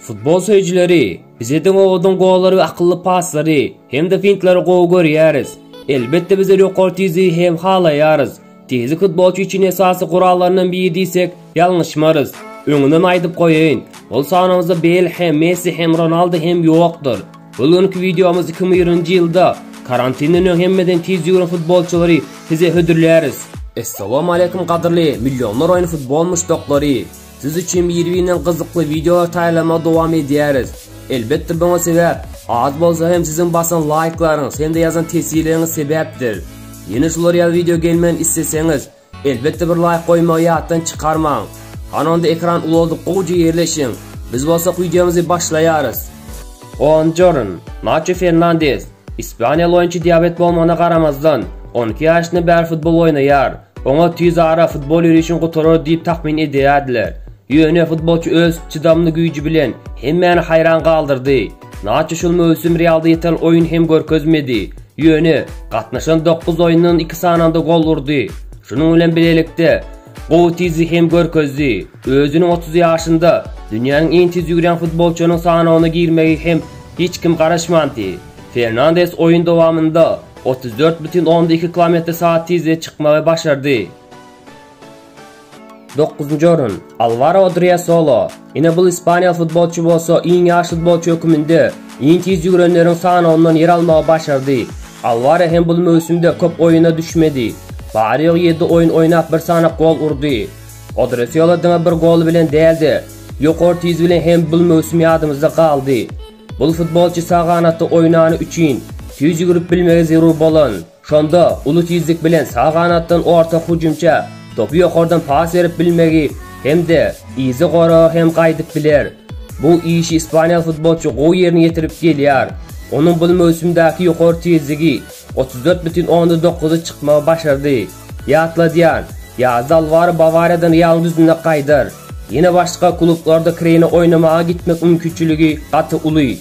Futbol söýüjileri, biz Eden Owadyň gollary we akylly paslary hem-de fintlary gowy görýäris. Elbetde, bizler ýokary tizligi hem halaýarys. Tizlik futbolçy üçin esasy gurallaryndan biri diýsek, ýalňyşmarys. Öňünden aýdyp goýaýyn, ol sanymyzda Bel hem, Messi hem, Ronaldo hem ýokdur. Bu günki wideomyz 2020-nji ýylda karantinden öň hemmeden tiz ýügüren futbolçylary size hödürläris. Essalamu aleýkum gadyrly millionlar oýny futbol muşdaklary! Siz üçin bir-birinden gyzykly wideolar taýýarlamagy dowam edýäris. Elbetde buňa sebäp az bolsa hem siziň basan laýklaryňyz hem-de ýazan teswirleriňiz sebäpdir. Ýene şular ýaly wideo gelmegini isleseňiz, elbetde bir laýk goýmagy ýatdan çykarmaň. Hany onda ekran ulaldyp gowja ýerleşiň. Biz bolsa wideomyzy başlaýarys. Buonjorn, Naço Fernandes, ispaniýaly oýunçy diabet bolmagyna garamazdan, on iki ýaşyndan bäri futbol oýnaýar. Oňa tiz ara futbol ýörişini gutarar diýip takmyn edýärdiler. Ýöne futbolçy öz çydamly güýji bilen hemmäni haýran galdyrdy. Naço şol möwsüm Realda ýeterli oýun hem görkezmedi. Ýöne, gatnaşan dokuz oýundan iki sanynda gol urdy. Şunuň bilen bilelikde, gowy tizligi hem görkezdi. Özüniň otuz ýaşynda dünýäniň iň tiz ýügrýän futbolçylarynyň sanawyna girmegi hem hiç kim garaşmandy. Fernandes oýun dowamynda Otuz dört bütin onda iki kilometr sagat tizlige çykmagy başardy. Dokuzynjy orun, Alvaro Odriasolo. Ine bul ispaniýaly futbolçy bolsa iň ýaş futbolçy höküminde iň tiz ýügürenleriň sanawyndan ýer almagy başardy. Alwaro hem bul möwsümde köp oýuna düşmedi. Bary-ýogy ýedi oýun oýnap bir sany gol urdy. Odriasolo diňe bir goly bilen däl-de, ýokary tizligi bilen hem bul möwsüm ýadymyzda galdy. Bul futbolçy sag ganatda oýnany üçin tüýs ýügürip bilmegi zerur bolan, şonda uly tizlik bilen sag ganatdan orta hüjümçä topy ýokardan pas berip bilmegi hem-de yzy goraga hem gaýdyp biler. Bu işi ispaniýaly futbolçy gowy ýerine ýetirip gelýär. Onuň bul möwsümdäki ýokary tizligi otuz dört bütin onda dokuzy çykmagy başardy. Ýatladýan, ýazda Alwaro Bawariýadan Realyň düzünde gaýdar. Ýene başga klublarda kireýine oýnamaga gitmek mümkinçiligi gaty uly.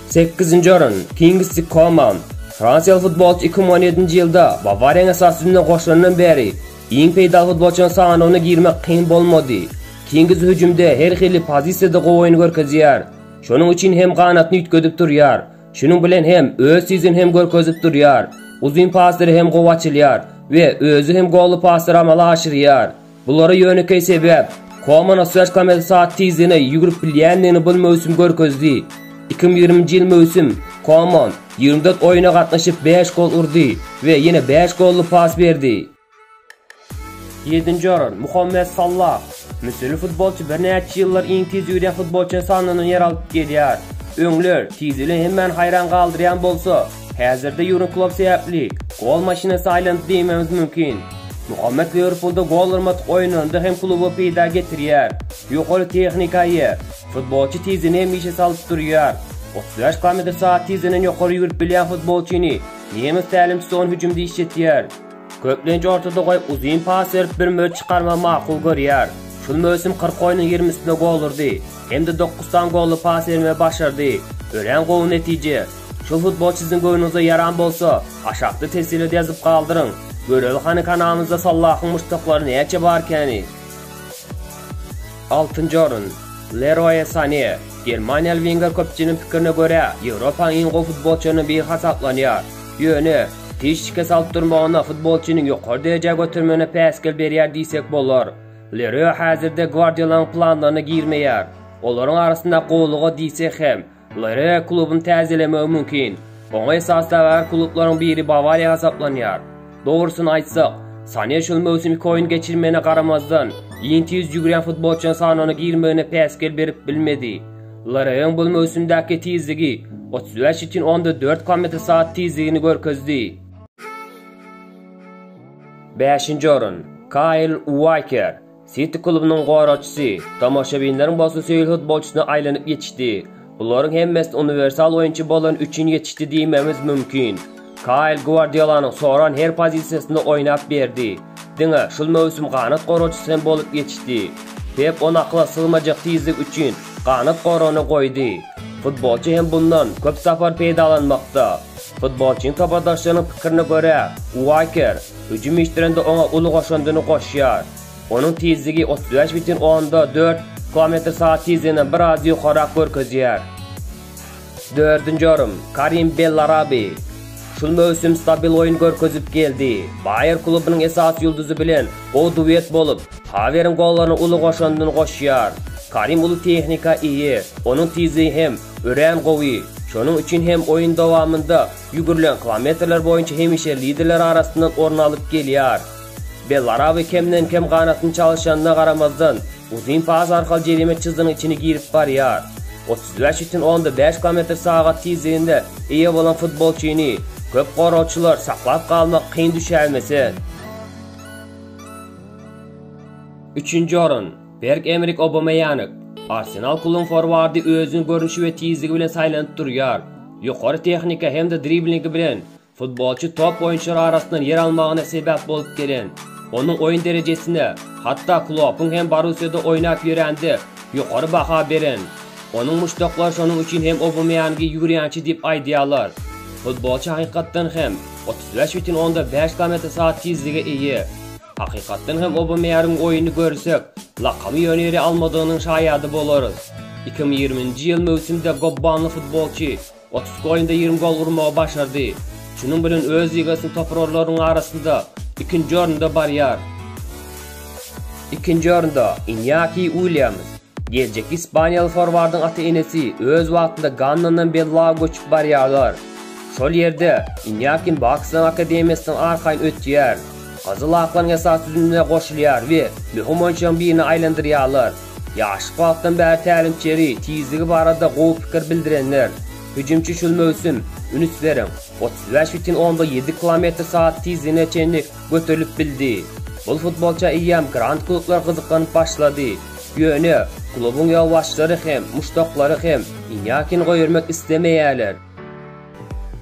Sekizinji orun, Kingsley Koman. Fransiýaly futbolçy iki müň on ýedinji ýylda Bawariýanyň esasy düzümine goşulandan bäri iň peýdaly futbolçylaryň sanawyna girmek kyn bolmady. Kingsley hüjümde her hili pozisiýada gowy oýun görkezýär. Şonuň üçin hem ganatyny üýtgedip durýar. Şunuň bilen hem öz tizini hem görkezip durýar. Uzyn pasdyry hem gowy açylýar we özi hem golly pasdyr amala aşyrýar. Bulara ýönekeý sebäp, Komana Search komandasy sagat tizligine ýügrüp bilýändigini bul möwsüm görkezdi. Iki müň ýigriminji ýyl möwsüm Koman ýigrimi dört oýna gatnaşyp bäş gol urdy we ýene bäş golly pas berdi. Ýedinji orun, Muhammet Sallah. Müsürli futbolçy birnäçe ýyllar iň tiz ýüzýän futbolçynyň sanyndan ýer alyp gelýär. Öňler tizligi hemmäni haýran galdyrýan bolsa, häzirde Ýurgen Klopp sebäpli gol maşynasy aýlanyp diýmegimiz mümkin. Muhammet Liwerpulda gol urmadyk oýunlarynda hem kluba peýda getirýär. Ýokary tehnika eýe. Futbolçy tizini hemişe salyp durýar. Otuz bäş kilometr sagat tizliginden ýokary ýüwrüp bilýän futbolçyny nemes tälimçisi on hüjümde işletýär. Köplenç orta dogaý uzyn pas berip bir möç çykarmagy makul görýär. Şul möwsüm kyrk oýnuň ýigrimisinde gol urdy hem-de dokuz sany golly pas bermegi başardy. Örän gowy netije. Şul futbolçy siziň göwnüňize ýaran bolsa, aşakda teswirede ýazyp galdyryň. Göreli hany kanalymyzda Sallahyň muşdaklary näçe barkäni? Altynjy orun, Leroýe Sane. Germaniýaly wenger köpçüligiň pikirine görä, Ýewropanyň iň gowy futbolçylarynyň biri hasaplanýar. Ýöne, hiç şikes alyp durmagyna futbolçyny ýokary derejä götermegine päsgel berýär diýsek bolar. Leröe häzirde Gwardiolanyň planlaryna girmeýär. Olaryň arasynda gowulyga diýsek hem, Leröe klubuny täzelemegi mümkin. Oňa esasdagär klublaryň biri Bawariýa hasaplanýar. Dogrusyny aýtsak, Sane şol möwsüm iki oýun geçirmegine garamazdan, ýeňse ýüz ýügürýän futbolçylaryň sanawyna girmegine päsgel berip bilmedi. Lareýiň bul möwsümdäki tizligi otuz bäş ýütin onda dört km/saat tizligini görkezdi. Bäşinji orun, Kaýl Uaýker, Siti klubynyň goragçysy, tomaşabinleriň bolsa söýül futbolçysyna aýlanyp ýetişdi. Bularyň hemmesi uniwersal oýunçy bolany üçin ýetişdi diýmegimiz mümkin. Kaýl Gwardiolanyň soran her pozisiýasynda oýnap berdi. Diňe şul möwsüm ganat goragçysy hem bolup ýetişdi. Pep ony akyla sygmajak tizlik üçin ganat goragyna goýdy. Futbolçy hem bundan köp sapar peýdalanmakda. Futbolçynyň topadaşlarynyň pikirine görä, Uaker hüjüm işdirende oňa uly goşandyny goşýar. Onuň tizligi otuz bäş bitin onda dört km/sagat tizliginden biraz ýokarak görkezýär. Dördünji orun, Karim Bellarabi. Şul möwsüm stabil oýun görkezip geldi. Baýer klubunyň esasy ýulduzy bilen gowy duet bolup, Haweriň gollaryna uly goşandyny goşýar. Karim uly tehnika eýe, onuň tizligi hem örän gowy. Şonuň üçin hem oýun dowamynda ýügürilen kilometrler boýunça hemişe liderler arasyndan orun alyp gelýär. Bellarabi kemden-kem ganatyny çalyşanyna garamazdan, uzyn pas arkaly jerime çyzgynyň içine girip barýar. Otuz bäş üçin onda bäş kilometr sagat tizligine eýe bolan futbolçyny köp goragçylar saklap galmak kyn düşäýmese, Üçünji orun, Berg-Emrik Obameýank. Arsenal klubynyň forwardy özüniň görnüşi we tizligi bilen saýlanyp durýar. Ýokary tehnika hem-de driblingi bilen Futbolçy top oýunçylar arasyndan ýer almagyna sebäp bolup gelen, onuň oýun derejesine, hatda Kloppyň hem Borussiýada oýnap ýörände ýokary baha beren. Onuň muşdaklary şonuň üçin hem Obameýangy ýüwürýänçi diýip aýdýarlar. Futbolçy hakykatdan hem otuz bäş bütin onda bäş kilometr sagat tizlige eýe. Hakykatdan hem Obameýargyň oýuny görsek, lakamy ýöne ýere almadygynyň şaýady bolarys. Iki müň ýigriminji ýyl möwsümde gobbanly futbolçy, Otuzki oýunda ýigrimi gol urmagy başardy. Şunuň bilen öz ligasynda toparlaryň arasynda ikinji orunda barýar. Ikinji orunda, Inýaki Uilýams. Geljekki ispaniýaly forwardyň ata-enesi öz wagtynda Gannandan Bellaga göçüp barýarlar. Şol ýerde Inýakin Baksanyň akademiýasynyň arkaýyn ötýär. Gyzyl aklaryň esasy düzümine goşulýar we möhüm oýunçylaryň birine aýlandyrýarlar. Ýaşlyk wagtdan bäri tälimçi ýeri tizligi barada gowy pikir bildirenler. Hüjümçi şul möwsüm, ünüs beriň, otuz bäş bütin onda ýedi kilometr sagat tizligine çenli göterilip bildi. Bul futbolça eýýäm grand klublar gyzyklanyp başlady. Ýöne, klubuň ýolbaşçylary hem, muşdaklary hem Inýakini goýbermek islemeýärler.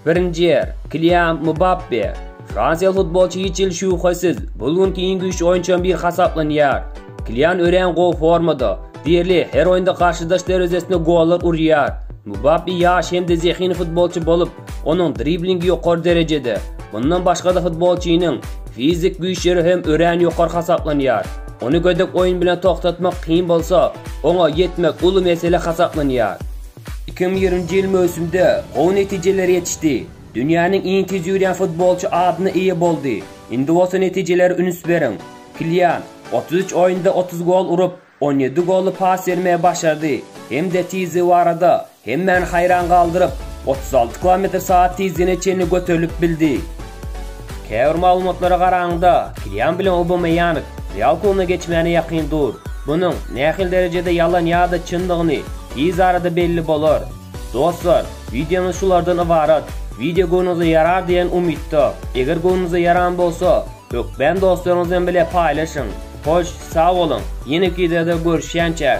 Birinji ýer, Kilian Mbappe. Fransiýaly futbolçy hiç hili şübhesiz, bu günki iň güýçli oýunçylaryň biri hasaplanýar. Kilian örän gowy formada, diýerli her oýunda garşydaş derwezesine gollar urýar. Mbappe ýaş hem-de zehinli futbolçy bolup, onuň driblingi ýokary derejede. Mundan başga-da futbolçynyň fizik güýçleri hem örän ýokary hasaplanýar. Ony gödek oýun bilen togtatmak kyn bolsa, oňa ýetmek uly mesele hasaplanýar. Iki müň ýigriminji ýyl möwsümde gowy netijelere ýetişdi. Dünýäniň iň tiz ýörýän futbolçy adyna eýe boldy. Indi bolsa netijelere üns beriň. Kilian, otuz üç oýunda otuz gol urup, on ýedi golly pas bermegi başardy hem-de tizligi barada hemmäni haýran galdyryp, otuz alty kilometr sagat tizligine çenli göterilip bildi. Käbir maglumatlara garanyňda, Kilian bilen Aubameýang Real klubuna geçmäne ýakyn dur. Munuň nähili derejede ýalan ýa-da çyndygyny tiz arada belli bolar. Dostlar, wideomyz şulardan ybarat. Wideo göwnüňize ýarar diýen umytda. Eger göwnüňize ýaran bolsa, hökman dostlaryňyz bilen bile paýlaşyň. Hoş, sag boluň, ýeneki wideoda görüşýänçäk!